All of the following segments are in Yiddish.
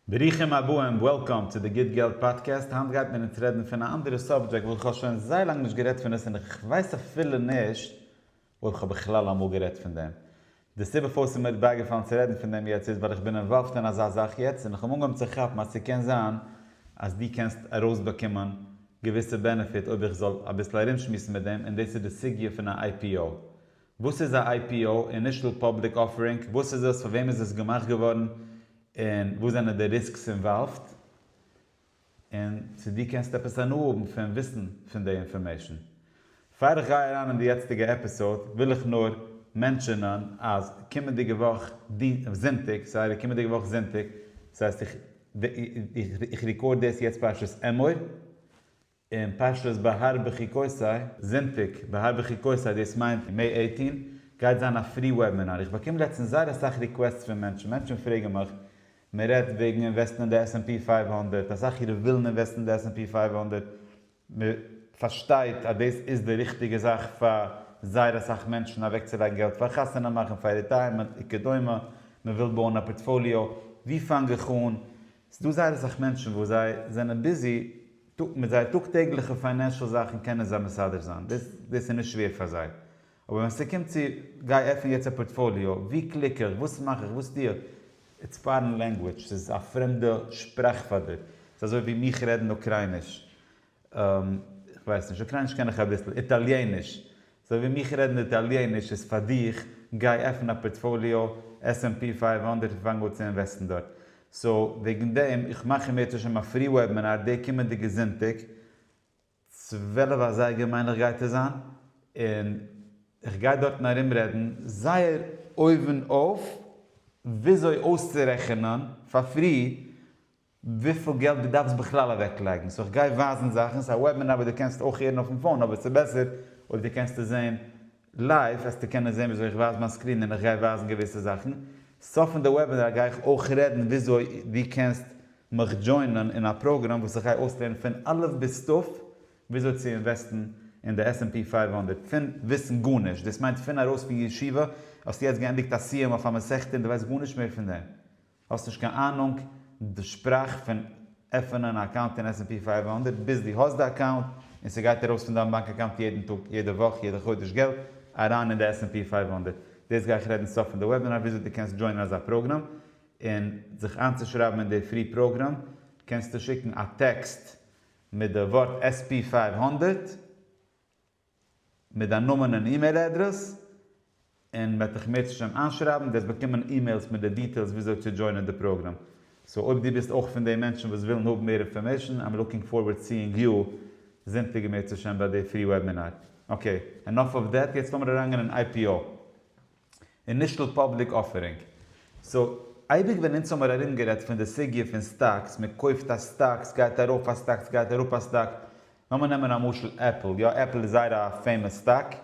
ברוכים הבאים, וועלקאם, צו די גוט געלט פאדקעסט, היינט גייט מען אונז רעדן פון א אנדערע סאבדזשעקט וואס איך האב שוין זייער לאנג נישט גערעדט פון עס און איך ווייס אפילו נישט אויב איך האב בכלל אמאל גערעדט פון דעם. די סיבה פארוואס ס'איז מיר בייגעפאלן צו רעדן פון דעם יעצט איז ווייל איך בין אינוואלווד אין אזא זאך יעצט און איך האב אנגעהויבן צו כאפן אז ס'קען זיין אז דו קענסט ארויסבאקומען געוויסע בענעפיט אויב איך זאל אביסל ארומשמועסן מיט דעם און דאס איז די סוגיא פון א IPO וואס איז א IPO, אינישעל פאבליק אפערינג, וואס איז עס, פאר וועם איז עס געמאכט געווארן, און וואס זענען די ריסקס אינוואלווד, און צו דו קענסט עפעס הנאה האבן פון וויסן פון די אינפארמעישן. פאר איך גיי אריין אין די יעצטיגע עפיסאוד וויל איך נאר מענטשענען אז קומענדיגע וואך זונטאג, סארי קומענדיגע וואך זונטאג, ס'הייסט איך רעקארד דאס יעצט פרשת אמור, און פשטות בהר בחוקותי. זונטאג, בהר בחוקותי, דאס מיינט מעי עיטין, גייט זיין א פרי וועבינאר. איך באקום לעצטנס זייער אסאך ריקוועסטס פון מענטשן, מענטשן פרעגן מיך, מען רעדט וועגן אינוועסטן אין די עס-ענד-פי פֿינף הונדערט, אסאך אירע ווילן אינוועסטן אין די עס-ענד-פי פֿינף הונדערט, מען פארשטייט אז דאס איז די ריכטיגע זאך פאר זייער אסאך מענטשן אוועקצולייגן געלט פאר חתונה מאכן, פאר ריטייערמענט, וכדומה, מען וויל בויען א פארטפאליאו, ווי פאנג איך אן, ס'דא זייער אסאך מענטשן וואס זיי זענען ביזי מיט זייער טאג טעגליכע פיינענשעל זאכן קענען זיי מסדר זיין דאס, דאס איז נישט שווער פאר זיי, אבער ווען ס'קומט צו גיי עפן יעצט א פארטפאליאו, וואו קליק איך, וואס מאך איך, וואס טו איך, איטס פארען לענגוויטש, ס'איז א פרעמדע שפראך פאר דיר, ס'איז אזוי ווי מיך רעדן אוקרייניש, איך ווייס נישט, אוקרייניש קען איך אביסל, איטאליעניש, אזוי ווי מיך רעדן איטאליעניש איז פאר דיך, גיי עפן א פארטפאליאו עס ענד פי פֿינף הונדערט און פאנג אן צו אינוועסטן דארט, סאו וועגן דעם, איך מאך אם ירצה השם א פרי וועבינאר די קומענדיגע זונטאג, צוועלף אזייגער מיין איך גייט עס זיין, און איך גיי דארטן ארום רעדן זייער אויבן אויף וויאזוי אויסצורעכענען פאר פרי וויפיל געלט דו דארפסט בכלל אוועקלייגן, סאו כ'גיי ווייזן זאכן, ס'איז א וועבינאר וואס דו קענסט אויך הערן אויפן פאון אבער ס'איז בעסער אויב דו קענסט עס זעהן לייוו, וועסטו קענען זעהן וויאזוי איך ווייז מיין סקרין און איך גיי ווייזן געוויסע זאכן, סוף פון די וועבינאר גיי איך אויך רעדן וויאזוי דו קענסט מיך דזשוינען אין א פראגראם וואס איך גיי אויסלערנען פון א' ביז ת' וויאזוי צו אינוועסטן אין די עס ענד פי פֿינף הונדערט פון וויסן גארנישט, דאס מיינט פון ארויס פון ישיבה האסטו יעצט געענדיגט א סיום אויף א מסכת און דו ווייסט גארנישט מער פון דעם. האסט נישט קיין אהנונג די שפראך פון עפענען א אקאונט אין עס ענד פי פֿינף הונדערט ביז דו האסט די אקאונט און סגייט ארויס פון דיין באנק אקאונט יעדן טאג יעדע וואך יעדע חודש געלט אריין אין די עס ענד פי פֿינף הונדערט דאס גיי איך רעדן סוף פון די וועבינאר וויאזוי דו קענסט דזשוינען אזא פראגראם און זיך איינצושרייבן אין די פרי פראגראם קענסטו שיקן א טעקסט מיט די ווארט עס ענד פי פֿינף הונדערט מיט דיין נאמען און אימעיל אדרעס, און מ'וועט דיך מער צו שם איינשרייבן, וועסט באקומען אימעילס מיט די דיטעילס וויאזוי צו דזשוינען די פראגראם. סאו אויב דו ביסט אויך פון די מענטשן וואס ווילן האבן מער אינפארמעישן, איים לוקינג פארווערד סיאינג יו זונטאג און מער צו שם ביי די פרי וועבינאר. אקעי, ענאף אוו דעט, יעצט לאמיר אריינגיין אין IPO. אינישעל פאבליק אפערינג. סאו, אייביג ווען אונז האמער ארום גערעדט פון די סוגיא פון סטאקס, מען קויפט א סטאק, סגייט ארויף א סטאק, סגייט אראפ א סטאק, לאמער נעמען א משל עפל, יא עפל איז זייער א פעימאס סטאק,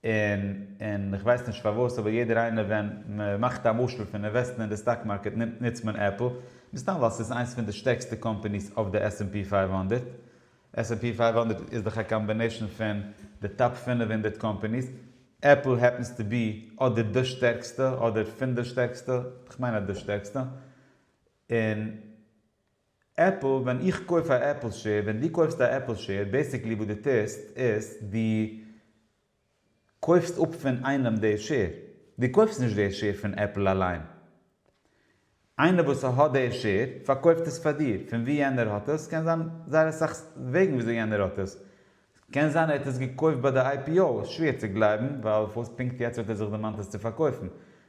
און און איך ווייס נישט פארוואס אבער יעדער איינער ווען מען מאכט א משל פון אינוועסטן אין די סטאק מארקעט נוצט מען עפל, מסתם ווייל סאיז איינס פון די שטערקסטע קאמפעניס אויף די עס ענד פי פֿינף הונדערט, עס ענד פי פֿינף הונדערט איז דאך א קאמבינעישן פון די טאפ פֿינף הונדערט קאמפעניס, עפל העפענס טו בי אדער די שטערקסטע אדער פון די שטערקסטע, כ'מיין אז די שטערקסטע, און עפל, ווען איך קויף א עפל שער, ווען דו קויפסט א עפל שער, בעסיקלי וואס דו טוסט איז דו קויפסט אפ פון איינעם די שעיר, דו קויפסט נישט די שעיר פון עפל אליין, איינער וואס האט די שעיר פארקויפט עס פאר דיר, פון ווי יענער האט עס קען זיין זייער אסאך וועגן וויאזוי יענער האט עס, קען זיין ער האט עס געקויפט ביי די איי פי או, שווער צו גלייבן ווייל וואס פונקט יעצט האט ער זיך דערמאנט עס צו פארקויפן,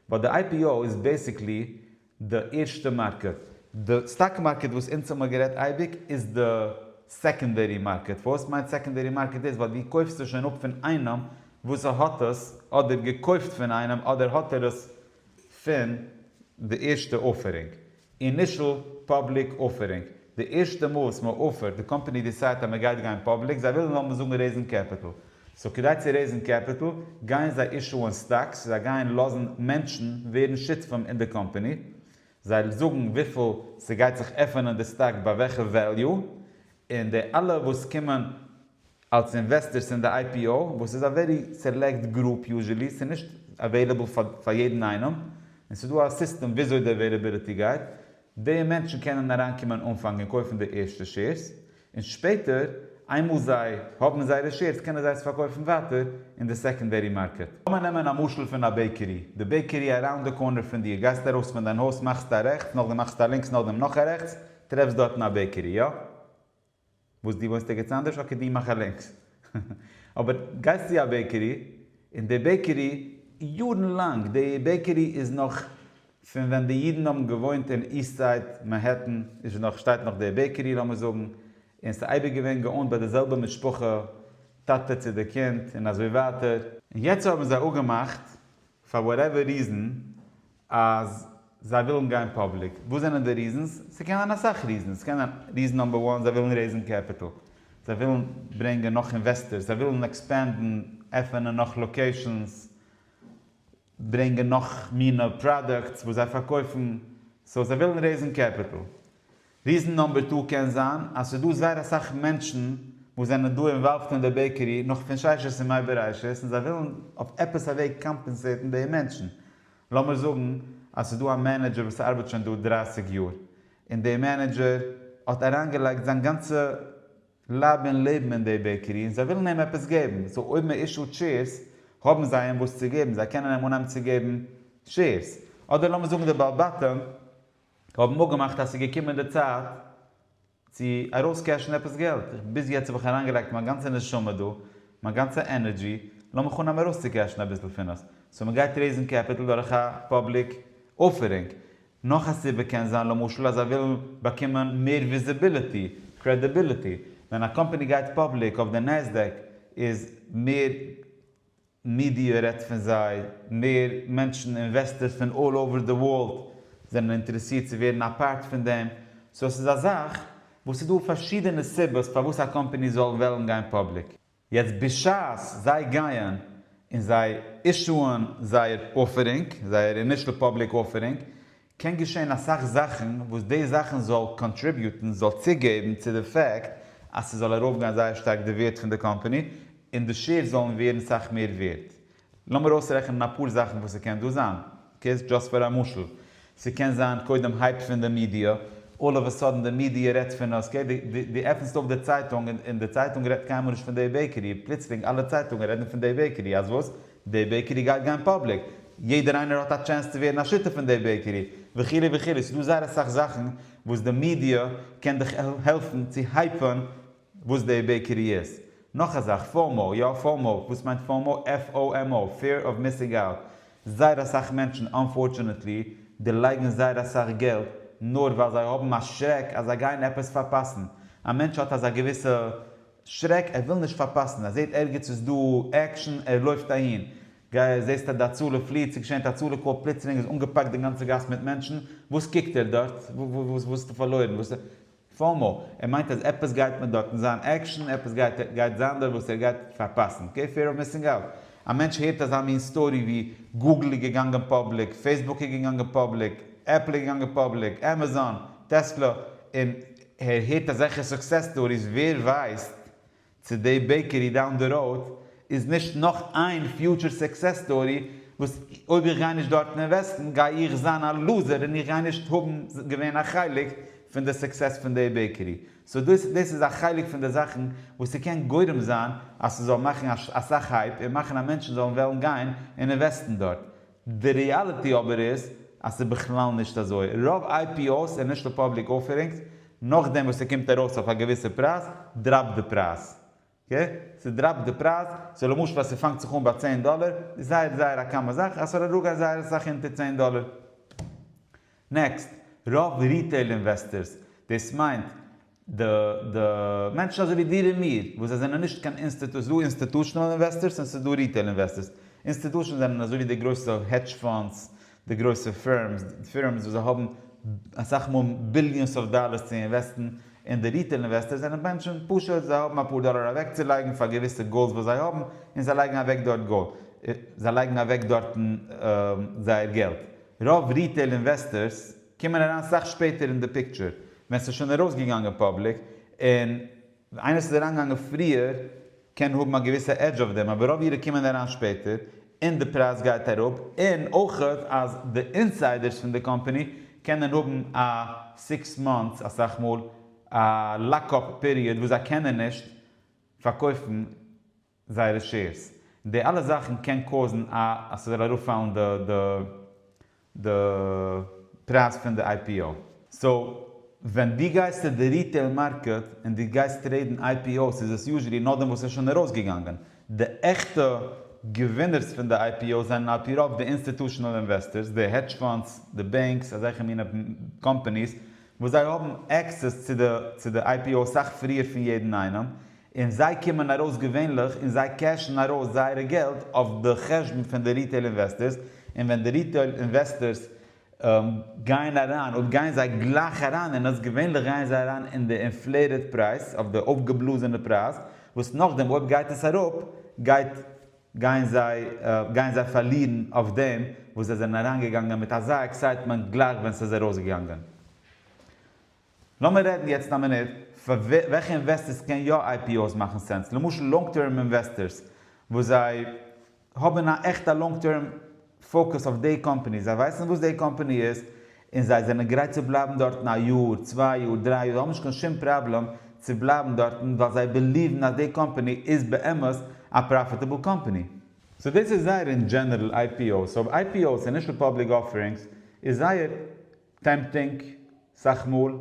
ווייל די איי פי או איז בעסיקלי די ערשטע מארקעט. די סטאק מארקעט וואס אונז האמער גערעדט אייביג איז די סעקענדערי מארקעט. פארוואס מיינט סעקענדערי מארקעט דאס? ווייל דו קויפסט עס שוין אפ פון איינעם וואס האט עס אדער געקויפט פון איינעם אדער האט ער עס פון די ערשטע אפערינג. אינישעל פאבליק אפערינג. די ערשטע מאל וואס מען אפערט, די קאמפעני דיסיידט אז מען גייט גיין פאבליק, זיי ווילן זאל מען זאגן רעיזן קעפיטל, סאו כדי צו רעיזן קעפיטל, גייען זיי אישוען סטאקס, זיי גייען לאזן מענטשן ווערן שותפים אין די קאמפעני, זיי זאגן וויפיל ס'גייט זיך עפענען די סטאק ביי וועלכע וועליו, און די אלע וואס קומען. אלס אינוועסטערס אין די IPO וואס איז א ווערי סעלעקט גרופ יוזשעלי, ס'איז נישט עוועילעבל פאר יעדן איינעם, און ס'איז דא א סיסטעם וויאזוי די עוועילעביליטי גייט, די מענטשן קענען אריינקומען אנפאנג און קויפן די ערשטע שעירס, און שפעטער איינמאל זיי האבן זייערע שעירס קענען זיי עס פארקויפן ווייטער אין די סעקאנדערי מארקעט. לאמיר נעמען א משל פון א בעיקערי, די בעיקערי אראונד די קארנער פון דיר, גייסט ארויס פון דיין הויז מאכסטו א רעכטס, נאכדעם מאכסטו א לינקס נאכדעם נאך א רעכטס, טרעפסט דארטן א בעיקערי, איא? וואס דו וואוינסט ערגעץ אנדערש אקעי דו מאך א לינקס אבער גייסט צו א בעקערי און די בעקערי יארן לאנג די בעקערי איז נאך פון ווען די אידן האבן געוואוינט אין איסט סייד מענהעטן איז נאך שטייט נאך די בעקערי לאמיר זאגן און ס'איז אייביג געווען געאונט ביי די זעלבע משפחה טאטע צו די קינד און אזוי ווייטער און יעצט האבן זיי אפגעמאכט פאר וואטעווער ריזן אז זיי ווילן גיין פאבליק. וואס זענען די ריזענס? ס'קען זיין אסאך ריזענס. ס'קען זיין ריזען נאמבער וואן זיי ווילן רעיזן קעפיטעל. זיי ווילן ברענגען נאך אינוועסטערס. זיי ווילן עקספענדן, עפענען נאך לאקעישאנס. ברענגען נאך מינע פראדוקטס וואס זיי פארקויפן. סאו זיי ווילן רעיזן קעפיטעל. ריזן נאמבער טא קען זיין אז ס'איז דא זייער אסאך מענטשן וואס זענען דא אינוואלווד אין די בעקערי נאך פון ששת ימי בראשית און זיי ווילן אויף עפעס א וועג קאמפענסעטן די מענטשן, לאמיר זאגן אז ס'איז דא א מענעדזשער וואס ארבעט שוין דא דרײַסיק יאר און די מענעדזשער האט אריינגעלייגט זיין גאנצע לייב און לעבן אין די בעקערי און זיי ווילן אים עפעס געבן, סאו אויב מען אישאוט שעירס האבן זיי אים וואס צו געבן, זיי קענען אים אנהייבן צו געבן שעירס, אדער לאמיר זאגן די בעל בתים. האבן אפגעמאכט אז ס'איז געקומען די צייט צו ארויסקעשן עפעס געלט, ביז יעצט האב איך אריינגעלייגט מיין גאנצע נשמה דא, מיין גאנצע ענערדזשי, לאמיך אנהייבן ארויסצוקעשן אביסל פון עס, סאו מ'גייט רעיזן קעפיטל דורך א פאבליק אפערינג, נאך א סיבה קען זיין למשל אז זיי ווילן באקומען מער וויזיביליטי, קרעדיביליטי, ווען א קאמפאני גייט פאבליק אויף די נעסדעק איז מער מידיע רעדט פון זיי, מער מענטשן אינוועסטערס פון אלל אווער די ווארלד זענען אינטערעסירט צו ווערן א פארט פון דעם, סאו עס איז א זאך וואס ס'איז דא פארשידענע סיבות פארוואס א קאמפעני זאל וועלן גיין פאבליק. יעצט בשעת זיי גייען און זיי אישוען זייער אפערינג, זייער אינישעל פאבליק אפערינג, קען געשען אסאך זאכן וואס די זאכן זאל קאנטריביוטן, זאל צוגעבן צו די פעקט אז ס'זאל ארויפגיין זייער שטארק די ווערד פון די קאמפאני, און די שעירס זאלן ווערן סאך מער ווערד. לאמיר אויסרעכענען אפאר זאכן וואס ס'קען דא זיין, קעירס דזשאסט פאר א משל. ס'קען זיין קודם הייפ פון די מידיע, אלל אוו א סאדען די מידיע רעדט פון עס, אקעי, דו עפענסט אויף די צייטונג און די צייטונג רעדט קיינמאל נישט פון די בעיקערי, פלוצלינג אלע צייטונגען רעדן פון די בעיקערי, אז וואס? די בעיקערי גייט גיין פאבליק, יעדער איינער האט א טשענס צו ווערן א שותף אין די בעיקערי, וכו' וכו', ס'איז דא זייער אסאך זאכן וואס די מידיע קען דיך העלפן צו הייפען וואס די בעיקערי איז. נאך א זאך, פאומו, יא פאומו, וואס מיינט פאומו? FOMO, Fear of Missing Out, זייער אסאך מענטשן אנפארטשענעטלי דערלייגן זייער אסאך געלט נאר ווייל זיי האבן א שרעק אז זיי גייען עפעס פארפאסן, א מענטש האט אזא געוויסע שרעק, ער וויל נישט פארפאסן, ער זעהט ערגעץ איז דא עקשן, ער לויפט אהין, גיי זעהסט אז די הצלה פליעט, ס'איז געשען א הצלה קאל, פלוצלינג איז אנגעפאקט די גאנצע גאס מיט מענטשן, וואס קוקט ער דארט? וואס איז דא פארלוירן? וואס איז פאומא? ער מיינט אז עפעס גייט מען דארטן זיין עקשן, עפעס גייט זיין דארט וואס ער גייט פארפאסן, אקעי, פעיר אוו מיסינג אוט, א מענטש הערט אזא מין סטארי ווי, גוגל איז געגאנגען פאבליק, פעיסבוק איז געגאנגען פאבליק, עפל איז געגאנגען פאבליק, עמעזאן, טעסלא, און. הער הערט אזעלכע סוקסעס סטאריס ווער ווייסט צו די בעקערי דאון די ראוד איז נישט נאך איין פיוטשער סוקסעס סטארי וואס אויב איך גיי נישט דארטן אינוועסטן גיי איך זיין א לוזער און איך גיי נישט האבן געווען א חלק פון די סוקסעס פון די בעקערי סאו דאס דאס איז א חלק פון די זאכן וואס ס'קען גורם זיין אז ס'זאל מאכן אסאך הייפ און מאכן אז מענטשן זאלן וועלן גיין און אינוועסטן דארט די ריאליטי אבער איז אז ס'איז בכלל נישט אזוי. רוב איי פי או'ס, אינישעל פאבליק אויפערינגס, נאכדעם וואס ס'קומט ארויס אויף א געוויסע פרייז, דראפט די פרייז. אקעי? ס'דראפט די פרייז. סאו למשל אז ס'פאנגט זיך אן ביי צען דאלער, איז זייער זייער א קאמע זאך אז ס'זאל אראפגיין זייער אסאך אונטער צען דאלער. נעקסט, רוב ריטעיל אינוועסטערס, דאס מיינט די די מענטשן אזוי ווי דיר און מיר, וואס זיי זענען נישט קיין אינסטעט, ס'איז דא אינסטעטושענעל אינוועסטערס און ס'איז דא ריטעיל אינוועסטערס, אינסטעטושענס זענען אזוי ווי די גרויסע העדזש פאנדס, די גרויסע פירמס, פירמס וואס זיי האבן אסאך מאל ביליאנס אוו דאלערס צו אינוועסטן, און די ריטעיל אינוועסטערס זענען מענטשן פשוט, זיי האבן אפאר דאלער אוועקצולייגן פאר געוויסע גאולס וואס זיי האבן, און זיי לייגן אוועק דארט גאלד, זיי לייגן אוועק דארטן זייער געלט. רוב ריטעיל אינוועסטערס קומען אריין סאך שפעטער אין די פיקטשער, ווען ס'איז שוין ארויסגעגאנגען פאבליק, און איינער וואס איז אריינגעגאנגען פריער קען האבן א געוויסע עדזש אויף דעם, אבער רוב אירע קומען אריין שפעטער, און די פרייז גייט אראפ, און אויך אז די אינסיידערס פון די קאמפאני קענען האבן א סיקס מאנטס אסאך מאל א לאק אפ פיריעד וואס זיי קענען נישט פארקויפן זייערע שעירס, די אלע זאכן קען קאוזן א אז ס'זאל ארויפפאלן די די די פרייז פון די איי פי או. סאו ווען דו גייסט צו די ריטעיל מארקעט און דו גייסט טרעידן איי פי או'ס איז עס יוזשעלי נאכדעם וואס ס'איז שוין ארויסגעגאנגען. די עכטע געווינערס פון די איי פי או'ס זענען על פי רוב די אינסטיטושענעל אינוועסטערס, די העדזש פאנדס, די בענקס, אזעלכע מינע קאמפאניס וואס זיי האבן עקסעס צו די צו די איי פי או סאך פריער פון יעדן איינעם, און זיי קומען ארויס געווענליך און זיי קעשן ארויס זייערע געלט אויף די חשבון פון די ריטעיל אינוועסטערס, און ווען די ריטעיל אינוועסטערס גייען אריין אויב גייען זיי גלייך אריין אין עס, געווענליך גייען זיי אריין אין די אינפלעיטעד פרייז, אויף די אויפגעבלאזענע פרייז, וואס נאכדעם אויב גייט עס אראפ גייט גייען זיי גייען זיי פארלירן אויף דעם וואס זיי זענען אריינגעגאנגען מיט אזא עקסייטמענט גלייך ווען ס'איז ארויסגעגאנגען. לאמיר רעדן יעצט א מינוט פאר וועלכע אינוועסטערס קען יא איי פי אוי'ס מאכן סענס, למשל לאנג טערם אינוועסטערס וואס זיי האבן א עכטע לאנג טערם פאוקוס אויף די קאמפאני, זיי ווייסן וואס די קאמפאני איז און זיי זענען גרייט צו בלייבן דארטן א יאר, צוויי יאר, דריי יאר, זיי האבן נישט קיין שום פראבלעם צו בלייבן דארטן ווייל זיי בעליוון אז די קאמפאני איז באמת א פראפיטעבל קאמפאני. סאו דאס איז זייער אין דזשענערל איי פי אוי'ס, סאו איי פי אוי'ס, אינישעל פאבליק אפערינגס, איז זייער. טעמפטינג, סאך מאל,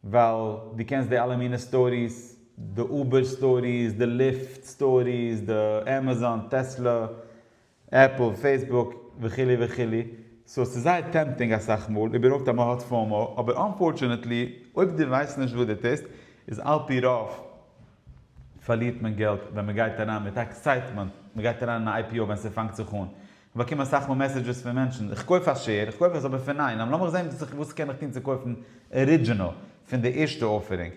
ווייל דו קענסט די אלע מינע סטאריס, די אובער סטאריס, די ליפט סטאריס, די עמעזאן, טעסלע, עפל, פעיסבוק, וכו' וכו', סאו ס'איז זייער טעמפטינג אסאך מאל, איבערהויפט אז מ'האט פאומא, אבער אנפארטשענעטלי אויב דו ווייסט נישט וואס דו טוסט, איז על פי רוב פארלירט מען געלט ווען מ'גייט אריין מיט עקסייטמענט, מ'גייט אריין אין א IPO ווען ס'פאנגט זיך אן, כ'באקום אסאך מאל מעסעדזשעס פון מענטשן, איך קויף א שער, איך קויף עס אבער פון ניין, לאמיך זען וואס איך וואס קען איך טון צו קויפן ארידזשינעל פון די ערשטע אופערינג.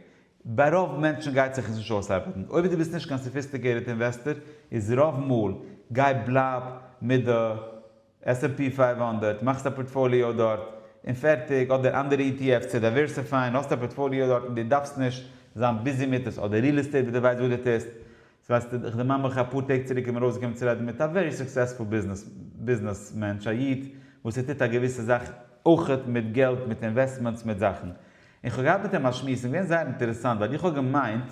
ביי רוב מענטשן גייט זיך עס נישט אויסארבעטן. אויב דו ביסט נישט קיין סאפיסטיקעיטעד אינוועסטער איז רוב מאל גיי בלייב מיט די עס ענד פי פֿינף הונדערט, מאכסט א פארטפאליאו דארט און פערטיג, אדער אנדערע אי טי עף'ס צו דייווערסיפייען, האסט א פארטפאליאו דארט און דו דארפסט נישט זיין ביזי מיט עס, אדער ריעל עסטעיט וואס דו ווייסט וואס דו טוסט, ווייסטו, איך דערמאן מיך אפאר טעג צוריק איז מיר אויסגעקומען צו רעדן מיט א ווערי סוקסעספול ביזנעס מענטש, א איד וואס ער טוט א געוויסע זאך אויכעט מיט געלט, מיט אינוועסטמענטס, מיט זאכן. און כ'האב געהאט מיט אים א שמועס, און געווען זייער אינטערעסאנט, ווייל איך האב געמיינט,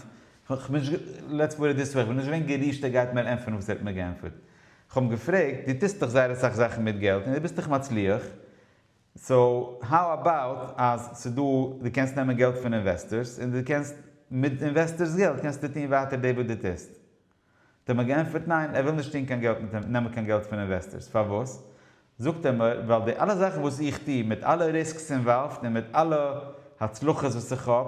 כ'בין נישט, לעטס פוט איט דיס וועי, כ'בין נישט געווען גערישט ער גייט מיר ענטפערן וואס ער האט מיר געענטפערט. כ'האב אים געפרעגט, דו טוסט דאך זייער אסאך זאכן מיט געלט, און דו ביסט דאך מצליח, סאו האו אבאוט אז ס'דא דו קענסט נעמען געלט פון אינוועסטערס און דו קענסט מיט אינוועסטערס געלט קענסטו טון ווייטער דעי וואס דו טוסט. האט ער מיר געענטפערט ניין ער וויל נישט טון קיין געלט מיט נעמען קיין געלט פון אינוועסטערס פארוואס? זאגט ער מיר ווייל די אלע זאכן וואס איך טו מיט אלע ריסקס אינוואלווד און מיט אלע הצלחות וואס איך האב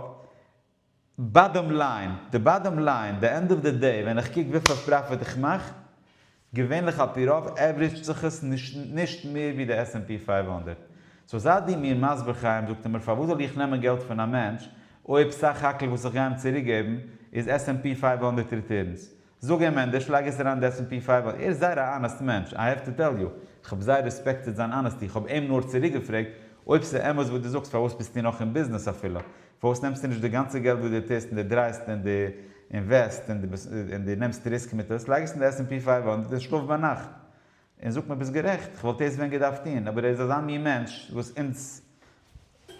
באדאם ליין, די באדאם ליין, די ענד אוו די דעי ווען איך קוק וויפיל פראפיט איך מאך, געווענליך על פי רוב עוורידזשט זיך עס נישט מער ווי די עס ענד פי פֿינף הונדערט, סאו זייט דו מיר מסביר חיים זאגט ער מיר פארוואס זאל איך נעמען געלט פון א מענטש אויב סך הכל וואס איך גיי אים צוריק געבן איז עס ענד פי פֿינף הונדערט ריטערנס, זאג אים ענדערש לייג עס אריין די עסענד פי פייל ווייל ער איז זייער א אנעסט מענטש איי העוו טו טעל יו, כ'האב זייער רעספעקטעד זיין אנעסטי כ'האב אים נאר צוריק געפרעגט אויב ס'איז אמת וואס דו זאגסט פארוואס ביסטו נאך אין ביזנעס אפילו? פארוואס נעמסטו נישט די גאנצע געלט וואס דו טוסט און דו דרייסט און דו אינוועסט און דו נעמסט ריסק מיט עס לייג עס אין די עסענד פי פייל ווייל און דו זעסט שלאף ביינאכט און זאגט מיר ביסט גערעכט, איך וואלט עס ווען געדארפט טון, אבער ער איז אזא מין מענטש וואס אונז,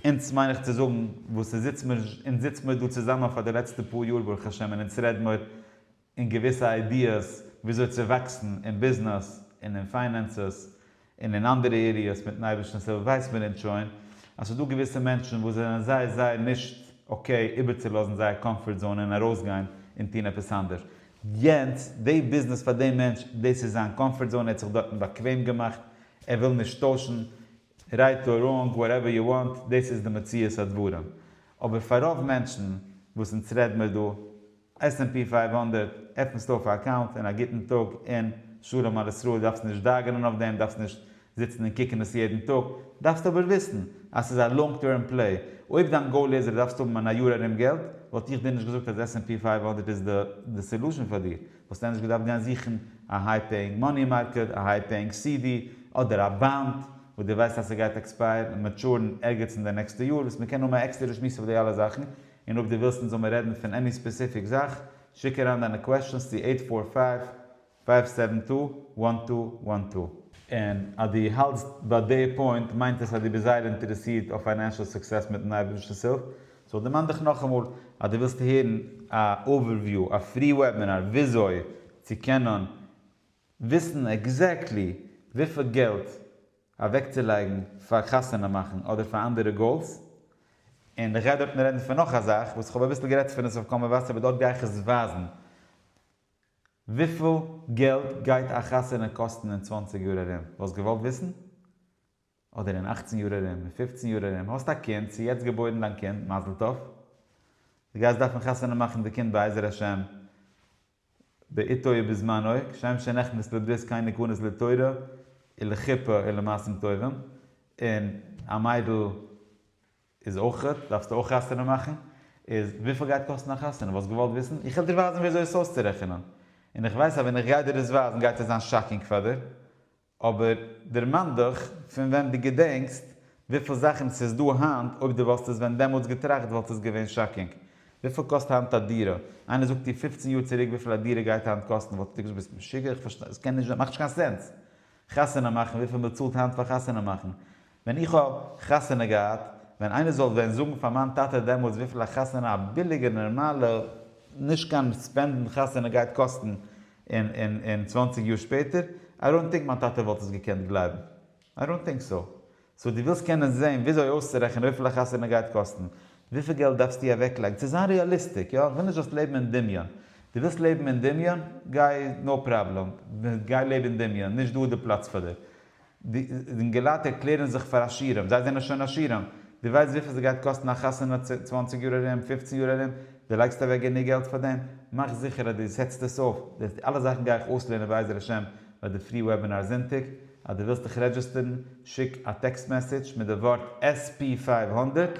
אונז מיין איך צו זאגן וואס עס זיצט מיר, אונז זיצט מיר דא צוזאמען פאר די לעצטע פאר יאר ברוך השם און אונז רעד מיר אין געוויסע איידיעס וויאזוי צו וואקסן אין ביזנעס און אין פיינענסעס און אין אנדערע עריעס מיטן אייבערשטנ'ס הילף ווייסט מען אונז שוין אז ס'דא געוויסע מענטשן וואס זענען זייער זייער נישט אקעי איבערצולאזן זייער קאמפארט זאון און ארויסגיין און טון עפעס אנדערש יענץ, די ביזנעס פאר דעם מענטש, דאס איז זיין קאמפארט זאון, ער האט זיך דארטן באקוועם געמאכט, ער וויל נישט טוישן, רייט אר ראנג, וואטעווער יו וואנט, דאס איז די מציאות הדברים. אבער פאר רוב מענטשן וואס אונז רעד מיר דא, עס ענד פי פֿינף הונדערט, עפנסטו אויף א אקאונט און א גוטן טאג און שלום על ישראל, דארפסט נישט דאגה'נען אויף דעם, דארפסט נישט זיצן און קוקן עס יעדן טאג, דארפסט אבער וויסן אז ס'איז א לאנג טערם פלעי, אויב דיין גאול איז אז דו דארפסט האבן אין א יאר ארום געלט, וואלט איך דיר נישט געזאגט אז עס ענד פי פֿינף הונדערט איז די סעלושען פאר דיר, וואלסט ענדערש געדארפט גיין זוכן א היי פעיאינג מאני מארקעט, א היי פעיאינג סי די, אדער א באנד וואס דו ווייסט אז ס'גייט עקספייערן און מעטשורן ערגעץ אין די נעקסטע יאר, וואס מ'קען האבן א עקסטערע שמועס אויף די אלע זאכן, און אויב דו ווילסט אונז זאל מיר רעדן פון עני ספעסיפיק זאך, שיק אריין דיינע קוועשאנס צו עיט פאר פייוו פייוו סעווען טו וואן טו וואן טו. און אז דו האלטסט ביי די פוינט מיינט עס אז דו ביסט זייער אינטערעסירט אויף פיינענשעל סוקסעס מיטן אייבערשטנ'ס הילף, סאו דערמאן דיך נאכאמאל אז דו ווילסט הערן א אווערוויו, א פרי וועבינאר וויאזוי צו קענען וויסן עקזעקטלי וויפיל געלט אוועקצולייגן פאר חתונה מאכן אדער פאר אנדערע גאולס. און איך גיי דארטן רעדן פון נאך א זאך וואס איך האב אביסל גערעדט פון עס אויף קול מבשר באט דארט גיי איך עס ווייזן. וויפיל געלט גייט א חתונה קאסטן אין צוואַנציק יאר ארום? וואלסט געוואלט וויסן? אדער אין אַכצן יאר ארום? אין פֿופֿצן יאר ארום? האסט א קינד, ס'איז יעצט געבוירן דיין קינד, מזל טוב. דו גייסט דארפן חתונה מאכן די קינד בעזר השם בעיתו ובזמנו, כשם שנחנית לברית קיין נקנות לתורה ולחופה ולמעשים טובים, און א מיידל, איז אויך גוט, דארפסטו אויך חתונה מאכן? איז וויפיל גייט קאסטן א חתונה? וואלסט געוואלט וויסן? איך וועל דיר ווייזן ווי אזוי עס אויסצורעכענען, און איך ווייס אז ווען איך גיי דיר עס ווייזן גייט עס זיין שאקינג פאר דיר, אבער דערמאן דיך פון ווען דו געדענקסט, וויפיל זאכן ס'איז דא היינט, אויב דו וואלסט עס ווען דעמאלטס געטראכט וואלט עס געווען שאקינג. וויפיל קאסט היינט א דירה? איינער זאגט דיר פופצן יאר צוריק וויפיל א דירה גייט היינט קאסטן וואלטסטו געזאגט ביסט משוגע, איך פארשטיי, עס קען נישט זיין, מאכט נישט קיין סענס. חתונה מאכן, וויפיל מ'צאלט היינט פאר חתונה מאכן, ווען איך האב חתונה געהאט, ווען איינער זאל ווען זאגן פאר מיין טאטע דעמאלטס וויפיל א חתונה א ביליגע נארמאלע נישט קיין ספענדן חתונה גייט קאסטן אין צוואַנציק יאר שפעטער, איי דאונט טינק מיין טאטע וואלט עס געקענט גלייבן. איי דאונט טינק סאו. סאו דו ווילסט קענען זען וויאזוי אויסצורעכענען וויפיל א חתונה גייט קאסטן, וויפיל געלט דארפסטו אוועקלייגן, צו זיין ריאליסטיק, יא? כ'וויל נישט זאלסט לעבן אין דמיון. דו ווילסט לעבן אין דמיון? גיי, נאו פראבלעם. גיי לעב אין דמיון. נישט דא איז די פלאץ פאר דיר. די אינגעלייט ערקלערן זיך פאר עשירים, זיי זענען שוין עשירים. דו ווייסט וויפיל ס'גייט קאסטן א חתונה צוואַנציק יאר ארום, פופצן יאר ארום? דו לייגסט אוועק גענוג געלט פאר דעם? מאך זיכער אז דו סעטסט עס אויף. די אלע זאכן גיי איך אויסלערנען בעזר השם ביי די פרי וועבינאר זונטאג. אז דו ווילסט דיך רעדזשיסטערן, שיק א טעקסט מעסעדזש מיט די ווארט SP פֿינף הונדערט